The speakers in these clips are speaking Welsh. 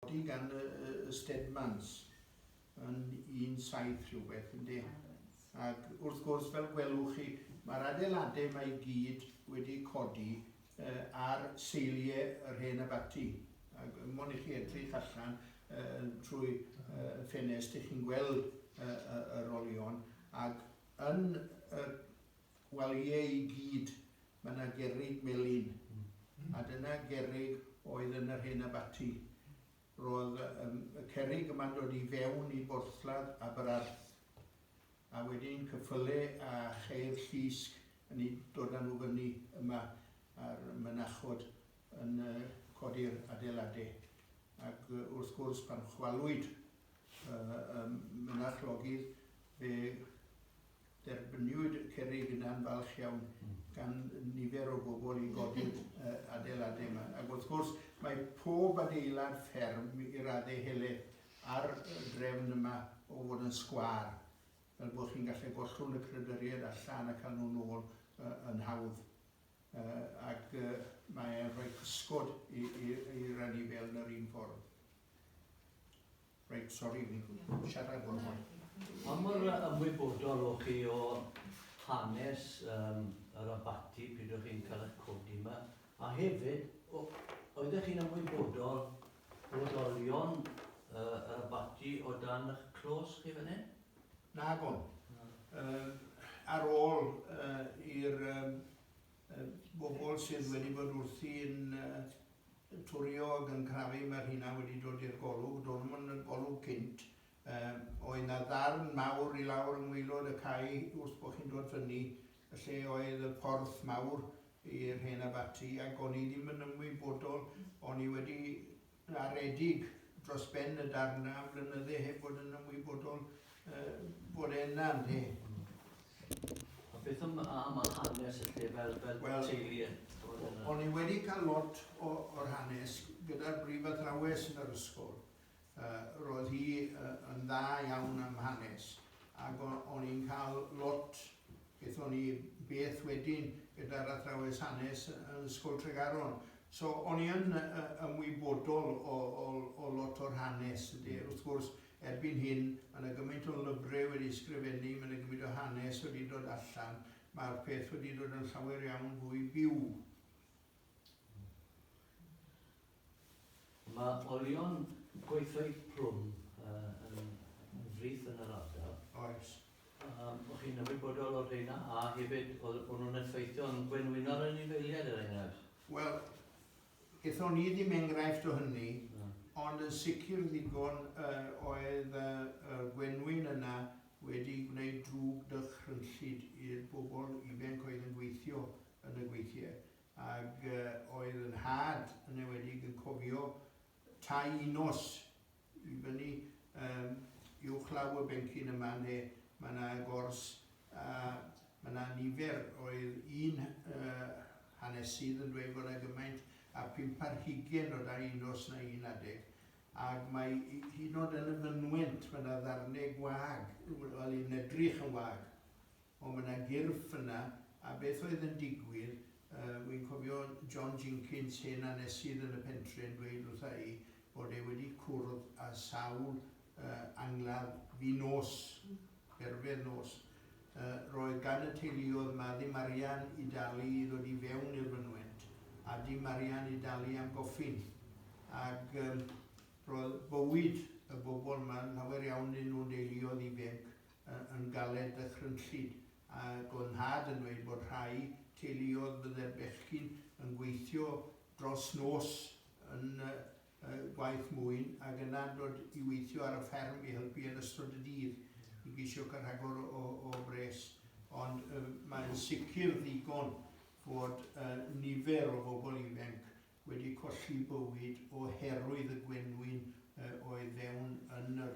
Ydy gan y Stedmans yn un saith rhywbeth, ynde? Ac wrth gwrs, fel gwelwch chi, mae'r adeiladau yma i gyd wedi codi ar seiliau yr hen abaty. Ac mond i chi edrych allan trwy ffenest, 'ych chi'n gweld yr olion, ac yn y Wel ie i gyd, mae 'na gerrig melyn, a dyna gerrig oedd yn yr hen abaty. Roedd y cerrig yma'n dod i fewn i borthladd Aberarth, a wedyn cyffyle a cheir llusg yn eu dod â nhw fyny yma, a'r mynachod yn codi'r adeiladau. Ac wrth gwrs, pan chwalwyd y mynach logydd, fe Derbyniwyd y cerrig yn anfalch iawn gan nifer o bobl i godi'r adeiladau yma. Ac wrth gwrs, mae pob adeilad fferm i raddau helaeth ar y drefn yma o fod yn sgwâr, fel bod chi'n gallu gollwng y crydyriaid allan a cael nhw'n ôl yn hawdd. Ac mae'n rhoi cysgod i'r anifail yn yr un ffordd. Reit, sori, o'n i'n siarad o'n hwy. Pa mor ymwybodol o chi o hanes um, yr abati pryd o'ch chi'n cael eich codi yma? A hefyd, oeddech chi'n ymwybodol bod olion uh, yr abati o dan eich clos chi fan hyn? Na, gwn. Uh, ar ôl uh, i'r um, bobl sydd wedi bod wrthi'n twrio ac yn crafu, mae rheina wedi dod i'r golwg, do'n nhw'm yn y golwg cynt. Oedd 'na ddarn mawr i lawr yng ngwaelod y cae wrth bo' chi'n dod fyny, lle oedd y porth mawr i'r hen abaty, ac o'n i ddim yn ymwybodol, o'n i wedi garedig dros ben y darn am flynydde heb fod yn ymwybodol bod e yna, ynde? A beth am hanes y lle fel teulu? O'n i wedi cael lot o'r hanes gyda'r brif athrawes yn yr ysgol. Roedd hi yn dda iawn am hanes ac o'n i'n cael lot Aethon ni beth wedyn gyda'r athrawes hanes yn Ysgol Tregaron. So o'n i yn ymwybodol o lot o'r hanes, ynde. Wrth gwrs, erbyn hyn, ma' 'na gymaint o lyfre wedi ysgrifennu, ma' 'na gymaint o hanes wedi dod allan, ma'r peth wedi dod yn llawer iawn fwy byw. Mae olion gweithfeydd plwm yn frith yn yr ardal. Oes. O'ch chi'n ymwybodol o'r rheina a hefyd oedd nhw'n effeithio yn gwenwynol yn ei feiliaid er enghraifft? Wel, gethon ni ddim enghraifft o hynny, ond yn sicr ddigon oedd y gwenwyn yna wedi gwneud drwg dychrynllyd i'r bobl ifanc oedd yn gweithio yn y gweithiau ag oedd yn nhad yn enwedig yn cofio tai i nos i fyny yym uwchlaw y bencyn yma ynde ma' na gors a ma' na nifer oedd un yy hanesydd yn dweud fod na gymaint a phump ar hugen o dai i nos na un adeg ag mae hyd yn o'd yn y fynwent ma' na ddarne gwag wel yn edrych yn wag. O ma na gyrff yna a beth oedd yn digwydd yy wi'n cofio John Jinkins hen anesydd yn y pentre yn dweud wrtha i bod e wedi cwrdd a sawl yy angladd fu nos perfedd nos yy roedd gan y teuluodd ma ddim arian i dalu i ddod i fewn i'r fynwent a dim arian i dalu am goffins ag yym roedd bywyd y bobl ma'n llawer iawn yn nhw'n deuluodd ibenc yn galed dychrynllyd, ag o'dd nhad yn dweud bod rhai teuluodd bydde'r bechgyn yn gweithio dros nos yn y gwaith mwyn ag yna dod i weithio ar y fferm i helpu yn ystod y dydd i geisio cael rhagor o bres. Ond mae'n sicr ddigon fod nifer o fobl ifenc wedi colli bywyd o herwydd y gwenwyn oedd fewn yn yr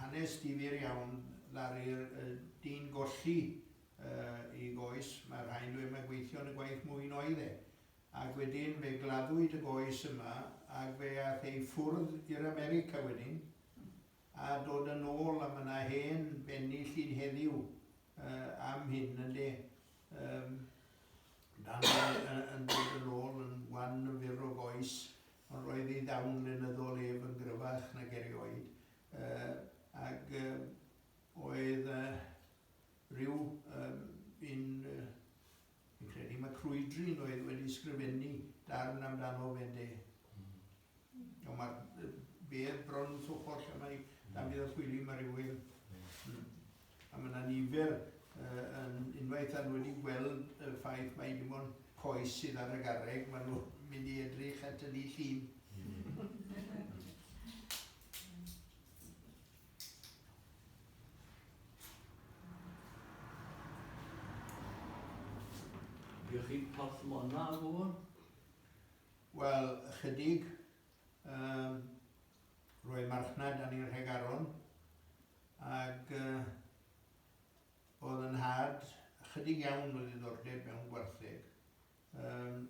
Hanes difyr iawn ddaru'r dyn golli i goes, mae rhai'n dweud mae gweithio yn y gwaith mwyn oedd e, ac wedyn fe gladdwyd y goes yma ac fe ath e i ffwrdd i'r America wedyn a dod yn ôl a mae yna hen benni llun heddiw am hyn ynde yym dan yn dod yn ôl yn wan yn fyr o goes Ond roedd ei ddawn lenyddol ef yn gryfach nag erioed, ac oedd rhyw un fi'n credu mae Crwydryn oedd wedi sgrifennu darn amdano fe ynde? Ond ma' fe bron yn llwchwr lle mae Dafydd ap Gwilym a rhywun. A mae 'na nifer yn unwaith a nhw wedi gweld y ffaith mai dim ond coes sydd ar y garreg, maen nhw'n mynd i edrych at y ni llun. Ydych chi porth mona o fôn? Wel, ychydig. Um, roi marchnad yn i'r Rhegaron ac oedd yn nhad ychydig iawn o ddiddordeb mewn gwartheg. Um,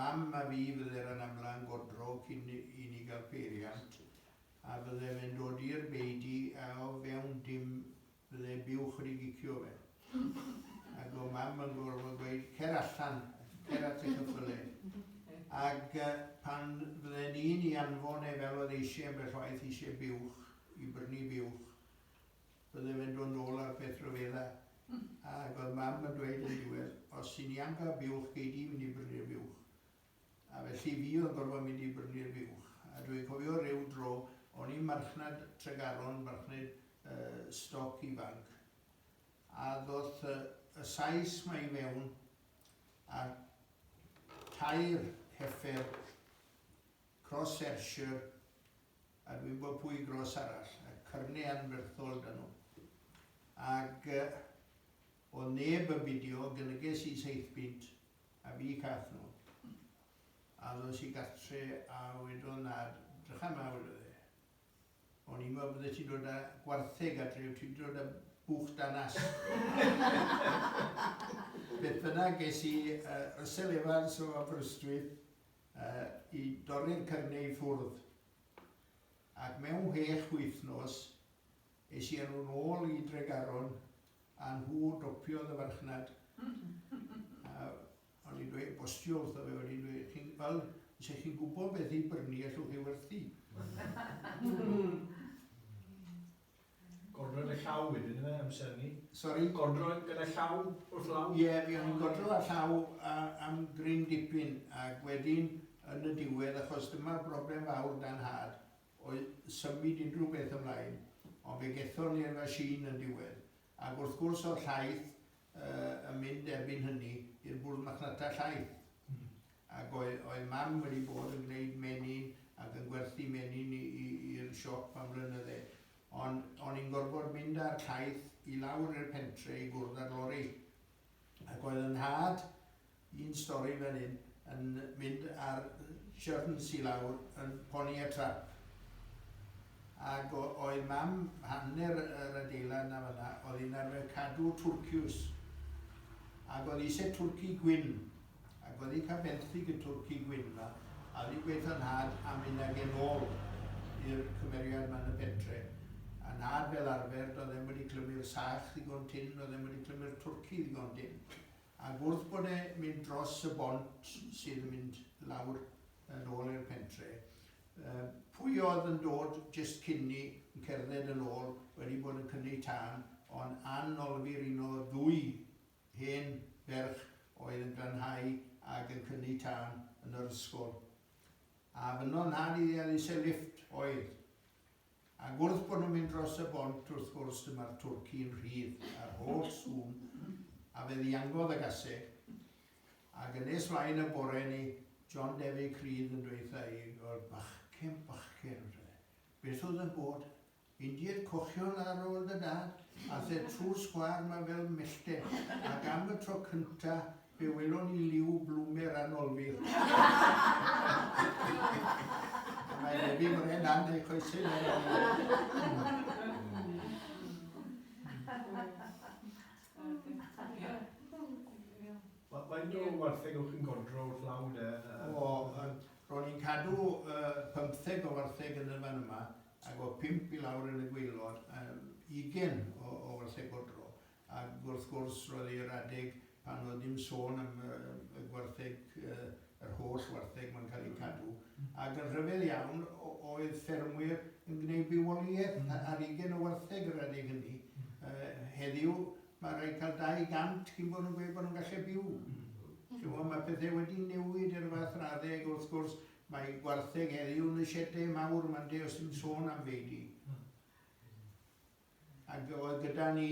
mam a fi fydde'r yn amla yn godro cyn i ni gael peiriant a bydde fe'n dod i'r beidi a o fewn dim Ble byw chdi i gicio fe? Ag o' mam yn gorfod gweud cer allan, cer at y cyffyle. Ag pan fydden i'n i anfon e fel oedd eisieu ambell waith eisieu buwch, i brynu buwch, bydde fe'n dod nôl a'r peth rhyfedda. Ag oedd mam yn dweud yn diwedd, os ti'n i anfa buwch gei di fynd i brynu'r buwch. A felly fi oedd yn gorfod mynd i brynu'r buwch. A dwi'n cofio ryw dro, o'n i'n marchnad Tregaron, marchnad stoc ifanc, a ddoth y Sais 'ma i fewn a tair heffer Cross Ayrshire a dwi'n gwybod pwy gros arall, a cyrne anferthol 'da nhw. Ac O'dd neb yn bidio, gylyges i saith punt a bu cath nhw. A ddos i gartre a wedodd nhad, Drycha 'ma, wedodd e. O'n i'n meddwl byddet ti'n dod â gwartheg adre, wyt ti wedi dod â buwch da nas. Beth bynnag, ges i Russell Evans o Aberystwyth i dorri'r cyfneu i ffwrdd. Ac mewn chwech wythnos, es i â nhw'n ôl i Dregaron A nhw dopiodd y farchnad. A o'n i'n dweud, bostio wrtho fe, o'n i'n dweud, chi'n, wel, se chi'n gwybod beth i brynu, allwch chi werthu. Godro yn y llaw wedyn, yna, e, amser ni? Sori? Godro gyda llaw wrth law? Ie, yeah, mi o'n i'n godro a llaw a, am gryn dipyn, ac wedyn, yn y diwedd, achos dyma'r broblem fawr dan had, o symud unrhyw beth ymlaen, ond fe gethon ni'r machine yn diwedd, ac wrth gwrs o'dd llaeth yy yn mynd erbyn hynny i'r bwrdd marchnata llaeth, ac oedd oedd mam wedi bod yn gneud menyn ac yn gwerthu menyn i i i'r siop am flynydde, ond o'n i'n gorfod mynd â'r llaeth i lawr i'r pentre i gwrdd â'r lori, Ac oedd yn nhad i'n stori fel hyn yn mynd ar siyrns i lawr yn poni y trap. Ac oedd mam hanner yr adeilad na fanna, oedd hi'n arfer cadw twrciws. Ac oedd eisiau twrci gwyn. Ac wedi cael benthyg y twrci gwyn 'ma, a wedi gweutho nhad am mynd ag e nôl i'r cymeriad 'ma yn y pentre. A nhad fel arfer, doedd e'm wedi clymu'r sach ddigon tynn, doedd e'm wedi clymu'r twrci ddigon dynn. Ac wrth bod e mynd dros y bont sydd yn mynd lawr yn ôl i'r pentre, yy, pwy oedd yn dod jyst cyn 'ny, yn cerdded yn ôl, wedi bod yn cynnu tân, ond ann olfir un o ddwy Hen ferch oedd yn glanhau ag yn cynnu tân yn yr ysgol. A fynno nad iddi a ddise lifft oedd. Ac wrth bod nhw'n mynd dros y bont wrth gwrs dyma'r twrci yn rhydd a'r holl sŵn a fe ddiangodd y gaseg. Ac yn nes flaen y bore ni John Defi Crydd yn dweutha i, wel bachgen, bachgen, beth oedd yn bod? Indied cochion ar ôl dy dad, a the true sgwâr ma fel mellten, ac am y tro cynta fe welon ni liw blwmer anolfyr. A mae Debbie Moren dan ei choesau mewn Wel, faint o wartheg o'ch chi'n godro wrth law de? O, ro'n i'n cadw pymtheg o wartheg yn y fan yma. Ac o pump i lawr yn y gwaelod, a ugain o ôl lle godro. Ac wrth gwrs, roedd e i'r adeg pan oedd dim sôn am y gwartheg, yr holl wartheg 'ma'n cael eu cadw. Ac yn rhyfedd iawn, oedd ffermwyr yn gwneud bywoliaeth ar ugain o wartheg yr adeg hynny. Heddiw, mae rhai cael 200 cyn bod nhw'n gweud bod nhw'n gallu byw. Chi'n gwybod, mae pethe wedi newid i'r fath raddau, ac wrth gwrs, Mae gwartheg heddiw yn y siede mawr mande os ti'n sôn am feidy. Ac oedd gyda ni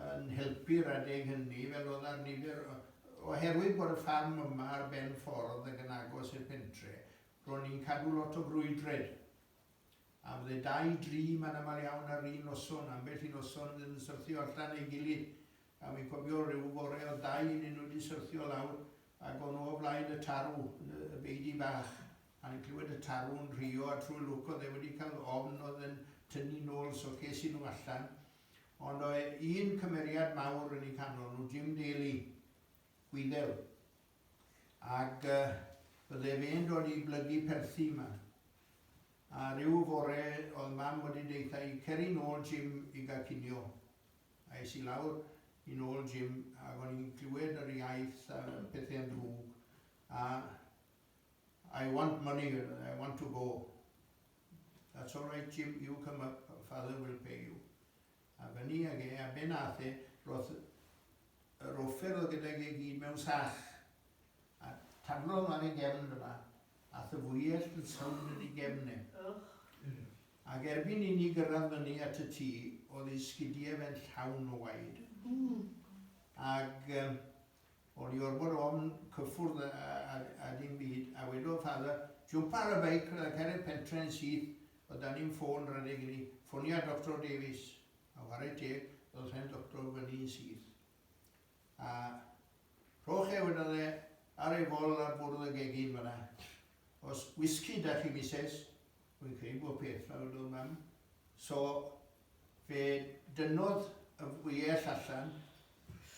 yn helpu'r adeg hynny fel oedd ar nifer oherwydd bod y ffarm yma ar ben ffordd ac yn agos i'r pentre, ro'n ni'n cadw lot o frwydred. A fydde dau, dri, mae'n aml iawn ar un noson, ambell i noson yn syrthio allan ei gilydd, A wi'n cofio ryw fore o'dd dau ynnyn nhw 'di syrthio lawr ag o'n nhw o flaen y tarw yn y beudy bach a o'n i'n clywed y tarw'n rhuo a trwy lwc o'dd e wedi cael ofn o'dd e'n tynnu nôl so ces i nhw allan ond o' un cymeriad mawr yn eu canol nhw, Jim Daly, Gwyddel ag bydde fe'n dod i blygu perthi 'ma a ryw fore o'dd mam wedi deutha i ceri nôl Jim i ga'l cinio Es i lawr yn ôl Jim ac o'n i'n clywed yr iaith a pethau yn ddrwg a I want money, I want to go. That's all right Jim, you come up, father will pay you. A fyny ag e, a be nath e, roedd yr offer oedd gyda ge gyd mewn sach a taflodd ar ei gefn dyma a thyfwyell yn sawnd yn ei gefn e. Ac erbyn inni gyrraedd fyny at y tŷ, oedd ei sgidiau fe'n llawn o waed. Ac o'n i orfod ofn cyffwrdd a dim byd, a wedodd Father, jwmpa ar y beic a cer i'r pentre yn syth, oedd 'da ni'm ffôn rhedeg inni, ffonia Doctor Davies. A whare teg, ddoth hen Doctor fyny yn syth. a rhowch e wedyn e ar ei fol ar bwrdd y gegin fanna. Os whisky da chi mises, rwy'n credu bod peth fel yn dod mam, so fe dynnodd y wyell allan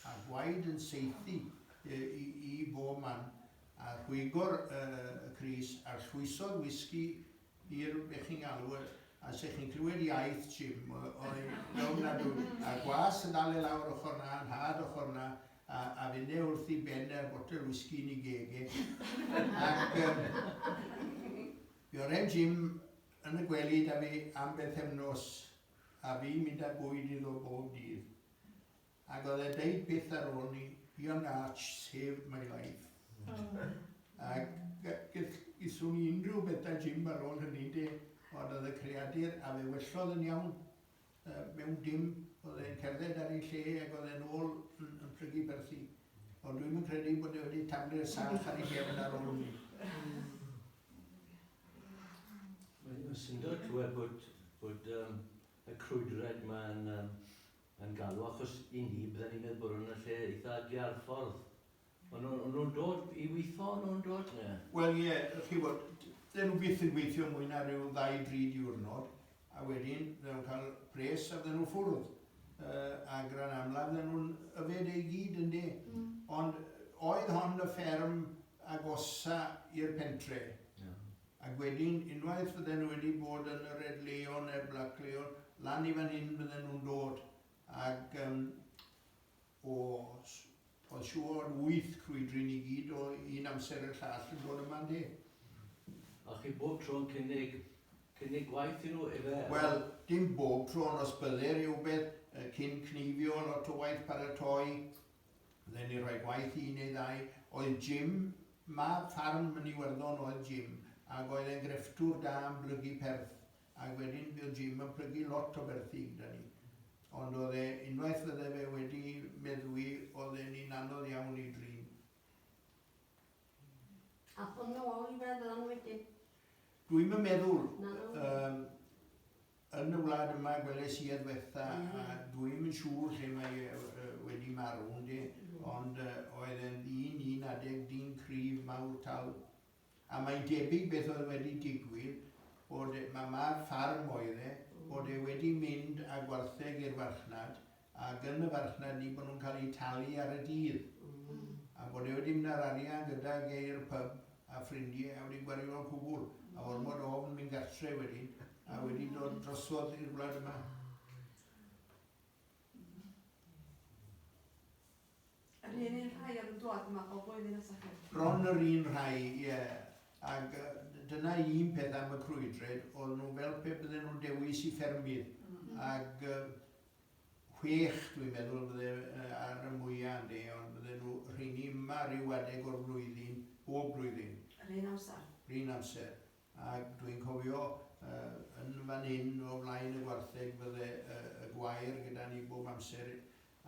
a gwaed yn saethu i, i bob man a rhwygo'r yy crys a llwysodd whisky I rywun be chi'n galw e, a 'se chi'n clywed iaith Jim oedd yn ofnadwy, a gwas yn dal e lawr ochr 'na, yn nhad ochr 'na, a a fyn e wrth i Ben a'r botel wisgi yn 'i geg e, ac yym fe oren Jim yn y gwely 'da fi am bethefnos, a fi'n mynd â bwyd iddo bob dydd. Ac oedd e deud byth ar ôl 'ny, Young Arch saved my life. Ac gell di swn i unrhyw beth 'da Jim ar ôl hynny ynde, ond oedd y creadur, a fe wellodd yn iawn, yy mewn dim, oedd e'n cerdded ar ei lle ac oedd e'n ôl yn yn plygu byrthi. Ond dwi'm yn credu bod e wedi taflu'r sach ar ei gefn ar ôl 'ny. Mae'n syndod clywed bod bod yym y crwydred 'ma yn yym yn galw achos i ni bydden ni'n meddwl bod nhw'n y lle eitha ydi ar ffordd o'n nhw'n o'n nhw'n dod i weitho o'n nhw'n dod ie. Wel ie chi'bod dyn nhw byth yn gweithio mwy na ryw ddau dri diwrnod a wedyn fydden nhw'n cael pres a fydden nhw'n ffwrdd yy a gran amla fydden nhw'n yfed e i gyd ynde ond oedd hon y fferm agosa i'r pentre. Ie. Ac wedyn, unwaith fydden nhw wedi bod yn y Red Leo neu'r Black Leo, lan i fan hyn fydden nhw'n dod. Ac yym o, oedd siŵr, wyth crwydri ni gyd o un amser i'r llall yn dod yma, ynde? A chi bob tro'n cynnig, cynnig gwaith i nhw, ife? Wel, dim bob tro, ond os bydde rhywbeth yy cyn cneifio, lot o waith paratoi, Ble ni roi gwaith i un neu ddau oedd Jim, mab ffarm yn Iwerddon oedd Jim ag oedd e'n grefftwr da yn blygu perth ag wedyn buo Jim yn plygu lot o berthi gyda ni ond oedd e unwaith fydde fe wedi meddwi oedd e'n un anodd iawn i drin. A hwn nhw ôl i feddwl am wedyn. Dwi'm yn meddwl. Yym, yn y wlad yma gwelais i adwertha a dwi'm yn siŵr lle mae e wedi marw ynde, ond oedd e'n ddyn un adeg, dyn cryf, mawr tal. A mae'n debyg beth oedd wedi digwydd, bod e, mae mab ffarm oedd e, bod e wedi mynd â gwartheg i'r farchnad ac yn y farchnad ni bod nhw'n cael eu talu ar y dydd a bod e wedi mynd â'r arian gydag e i'r pyb a ffrindiau a wedi gwario y cwbl a ormod o ofn mynd gartre wedyn a wedi dod drosodd i'r wlad yma. Yr un un rhai oedd yn dod yma bob blwyddyn at chi? Bron yr un rhai, ie. Yeah. Ac dyna un peth am y crwydred, oedd nhw fel pe bydden nhw dewis i ffermydd. Mm. Ac Chwech dwi'n meddwl bydde ar y mwya ynde ond bydde nhw rheiny yma ryw adeg o'r flwyddyn bob blwyddyn. Yr un amser? Yr un amser ac dwi'n cofio yn fan hyn o flaen y gwartheg bydde y gwair gyda ni bob amser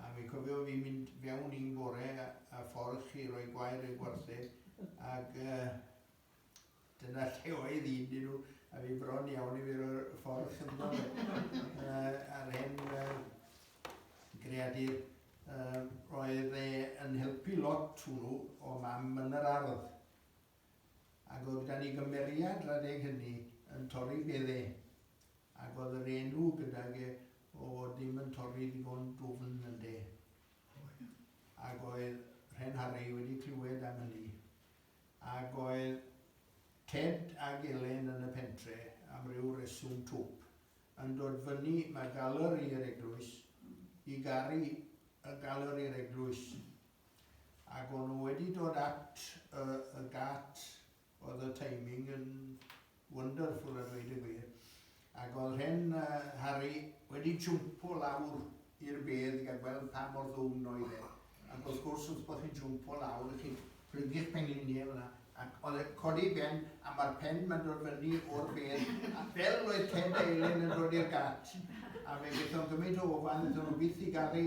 a fi'n cofio fi'n mynd fewn un bore a ffordd chi roi gwair i'r gwartheg ac Dyna lle oedd un dyn nhw, a fi bron iawn i fi roi'r ffordd chynddo fe. uh, a'r hen uh, greadur, uh, roedd e yn helpu lot hwnnw o mam yn yr ardd. Ac oedd gan i gymeriad radeg hynny yn torri bedde, ac oedd yr enw gydag e o fod ddim yn torri ddigon dwfn yn de. Ac oedd Rhen Harry wedi clywed am hynny. Ac oedd Ted ag Elen yn y pentre, am ryw reswm twp, yn dod fyny ma Galeri'r Eglwys i garu y Galeri'r Eglwys. Ac o'n nhw wedi dod at y y gât oedd y timing yn wonderful a dweud y gwir, ac oedd hen Harry wedi jwmpo lawr i'r bedd i gael gweld pa mor ddwfn oedd e, ac wrth gwrs wrth bod chi'n jwmpo lawr chi'n plygu'ch pengliniau fan'na, ac oedd e'n codi ben a mae'r pen ma'n dod fyny o'r bedd, a fel oedd Ted Dalen yn dod i'r gat, a fe gaethon gymaint o ofal iddyn nhw byth i gael ei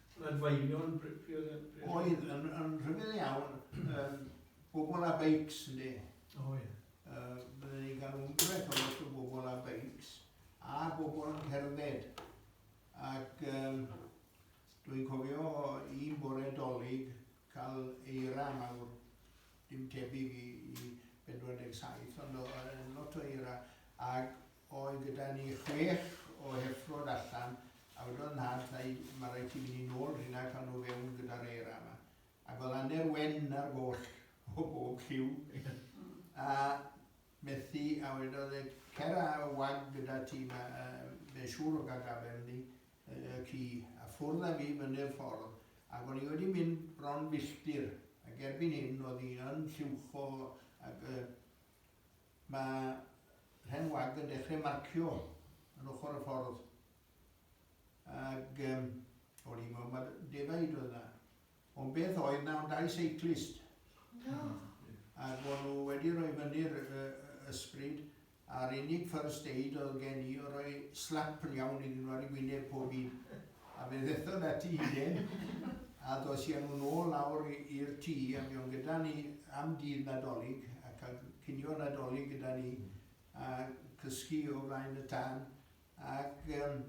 Adfeilion Oedd yn yn rhyfedd iawn yym bobl a beics ynde? O ie. Yy bydden ni'n cael ambell o lot o bobl a beics a bobl yn cerdded ac yym dwi'n cofio un bore Dolig cael eira mawr dim tebyg i i pedwar deg saith ond o'dd e'n lot o eira ag Oedd gyda ni chwech o heffrod allan a wedodd nhad wrthai ma raid ti fyny nôl rhina a cal nhw fewn gyda'r era yma. Ac oedd aner wen ar goll o bob lliw a methu a wedodd e cer a wag gyda ti ma fe'n siŵr o gal gafel ni y ci a ffwrdd a fi fyny'r ffordd ac o'n i wedi mynd bron filltir ac erbyn hyn oedd hi yn lliwcho ac y Mae rhen wag yn dechrau marcio yn ochr y ffordd ag yym o'n i'n meddwl mai defaid oedd yna. Ond beth oedd yna ond dau seiclist. Ac o'n nhw wedi rhoi fyny'r ysbryd a'r unig first aid oedd gen i oedd rhoi slap yn iawn iddyn nhw ar eu gwyneb pob un. A fe ddethon ati i Jen, a ddos i â nhw nôl lawr i'r tŷ, a buon gyda ni am dydd Nadolig, a cael cinio Nadolig gyda ni, a cysgu o flaen y tân, ac yym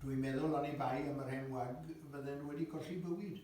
dw i'n meddwl oni bai am yr hen wag, fydden nhw wedi colli bywyd.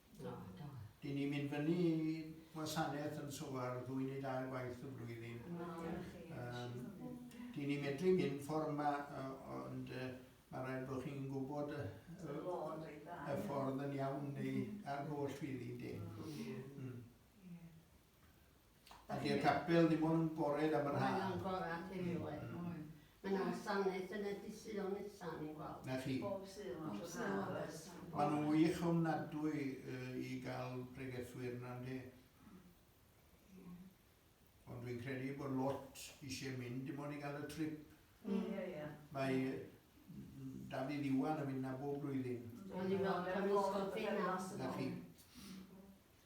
Na, da. Dyn ni'n mynd fyny i wasanaeth yn Sowar ddwy neu dair gwaith y flwyddyn. Um, dyn ni'n medru mynd ffordd yma, ond uh, mae rhaid bod chi'n gwybod y, y, y ffordd yn iawn neu ar goll fydd i de. Mm. Ac i'r capel ddim ond yn bored am yr haf. Mae'n angora'n rhywiol. Mae 'na wasanaeth yn y Dydd Sul nesa, o'n i'n gweld. 'Na chi. Bob Sul ond dros yr haf oes? Maen nhw'n wych ofnadwy i gael pregethwyr 'na ynde? Ie. Ond dwi'n credu bod lot eisiau mynd dim ond i gael y trip. Ie, ie. Mae Dafydd Iwan yn mynd 'na bob blwyddyn. O'n i'n meddwl bod e'n ysgol Fenas. 'Na chi.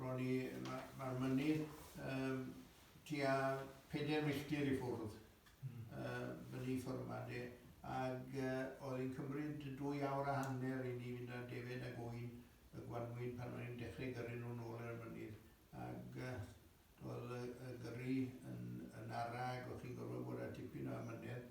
Ro'n i... ma- ma'r mynydd yym tua pedair milltir i ffwrdd yy fyny ffor 'ma de ag yy o'dd e'n cymryd dwy awr a hanner i ni fynd â defaid ag ŵyn y gwanwyn pan o'n i'n dechre gyrru n'w nôl ar y mynydd ag yy o'dd y y gyrru yn yn ara ag o'ch chi'n gorfod bod â tipyn o amynedd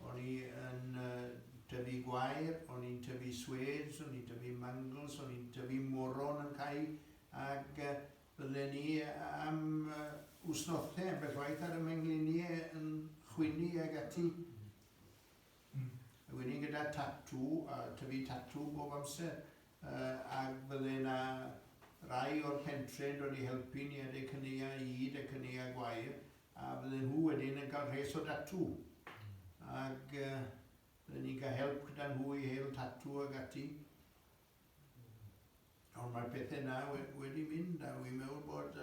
O'n i yn tyfu gwair, o'n i'n tyfu swêds, o'n i'n tyfu mangls, o'n i'n tyfu moron yn cau ac bydden ni am wsnothau ambell waith ar y mengliniau yn chwynnu ag ati. Ag o'n i gyda tatŵ a tyfu tatŵ bob amser. ac fydde 'na rai o'r pentre' yn dod i helpu ni adeg caneuau Eid a caneuau gwair, a fydde nhw wedyn yn cael rhes o datŵ, ac fydden ni'n cael help gyda nhw i hel tatŵ ac ati. Ond mae'r pethe' 'na wedi mynd, a wi'n meddwl bod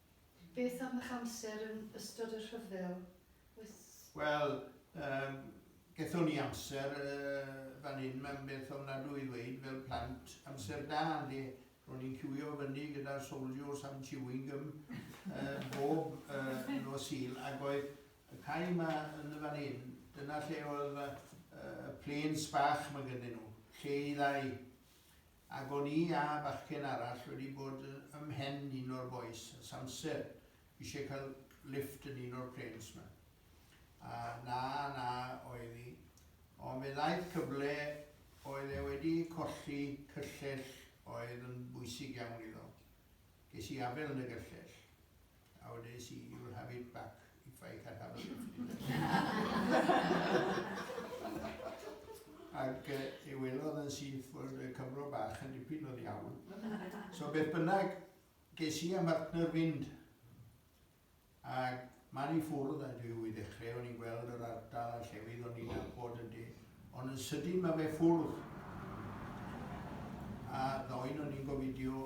Beth am eich amser yn ystod y rhyfel? Oes... Wel, yy, gethon ni amser yy fan hyn, mae'n beth ofnadwy i ddweud, fel plant, amser da, ynde? Ro'n i'n ciwio fyny gyda'r souldiors am chewing gum yy bob yy nos Sul, ac oedd y cae 'ma yn y fan hyn, dyna lle oedd y y planes bach 'ma gynnyn nhw, lle i ddau. Ac o'n i a bachgen arall wedi bod ym mhen un o'r bois ers amser, isie cael lifft yn un o'r planes 'ma. A na, na oedd hi. Ond fe ddaeth cyfle, oedd e wedi colli cyllell oedd yn bwysig iawn iddo. Ges i afael yn y gyllell. How did I see you'll have it back if I can have a look Ac uh, ei welodd yn syth fod y Cymro bach yn dipyn o ddiawl. So beth bynnag, ges i am partner fynd. Ac mae'n i ffwrdd a dwi wedi ddechrau o'n i'n gweld yr ardal a llefydd o'n i'n abod yn di. Ond yn sydyn mae fe ffwrdd. A ddoen o'n i'n gofidio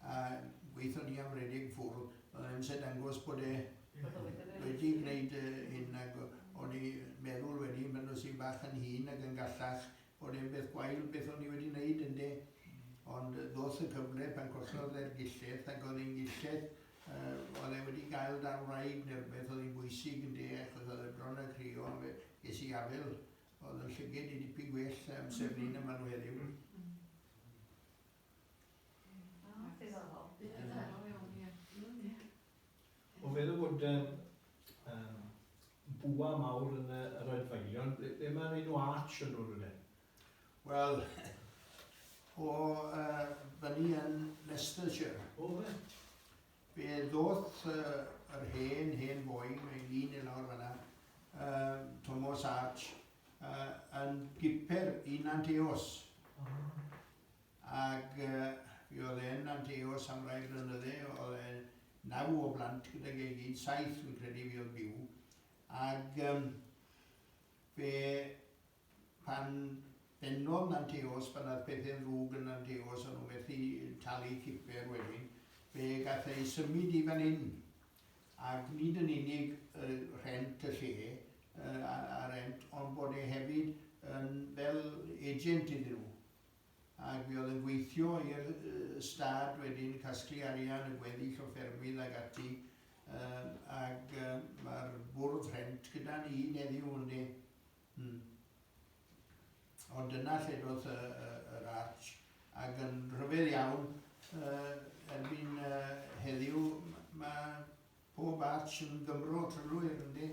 a gweithio ni am redeg ffwrdd, o'dd e'n amser dangos bod e wedi gwneud hyn ag o'n i meddwl wedyn pan es i'n bach yn hŷn ag yn gallach bod e'n beth gwael beth o'n i wedi neud ynde? Ond ddoth y cyfle pan collodd e'r gilleth ag o'dd e'n gilleth yy o'dd e wedi gael dan wraig ne' rwbeth o'dd hi'n bwysig ynde achos o'dd e bron a crio on' fe ges i afel o'dd yn llyged i dipyn gwell amser 'ny na ma' n'w heddiw. Ond meddwl bod um, um, bwa mawr yn y, yr adfeilion, ble, ble mae'r enw arch yn dod wedi'n? Wel, o uh, fyny yn Leicestershire. O, fe? Fe ddoth uh, yr hen, hen boi, mae'n lun i lawr fyna, uh, Thomas Arch, uh, yn giper i Nanteos. Oh. ac mi oedd e'n anteos am rai blynydde, oedd e naw o blant gydag ei gyd, saith fi'n credu fi oedd byw, ac um, fe pan bennodd Nanteos, pan oedd pethau'n ddrwg yn Nanteos, o'n nhw'n methu talu ciper wedyn, fe gath ei symud i fan hyn, ac nid yn unig y rhent y lle, a, a rent, ond bod e hefyd yn fel agent iddyn nhw. ac mi oedd yn gweithio i'r stad wedyn, casglu arian a gweddill o ffermydd ag ati, ag mae'r bwrdd rhent gyda ni hyd heddiw ynde. Hmm. Ond dyna lle doth yr arch, ac yn rhyfedd iawn, erbyn heddiw mae pob arch yn Gymro trylwyr ynde.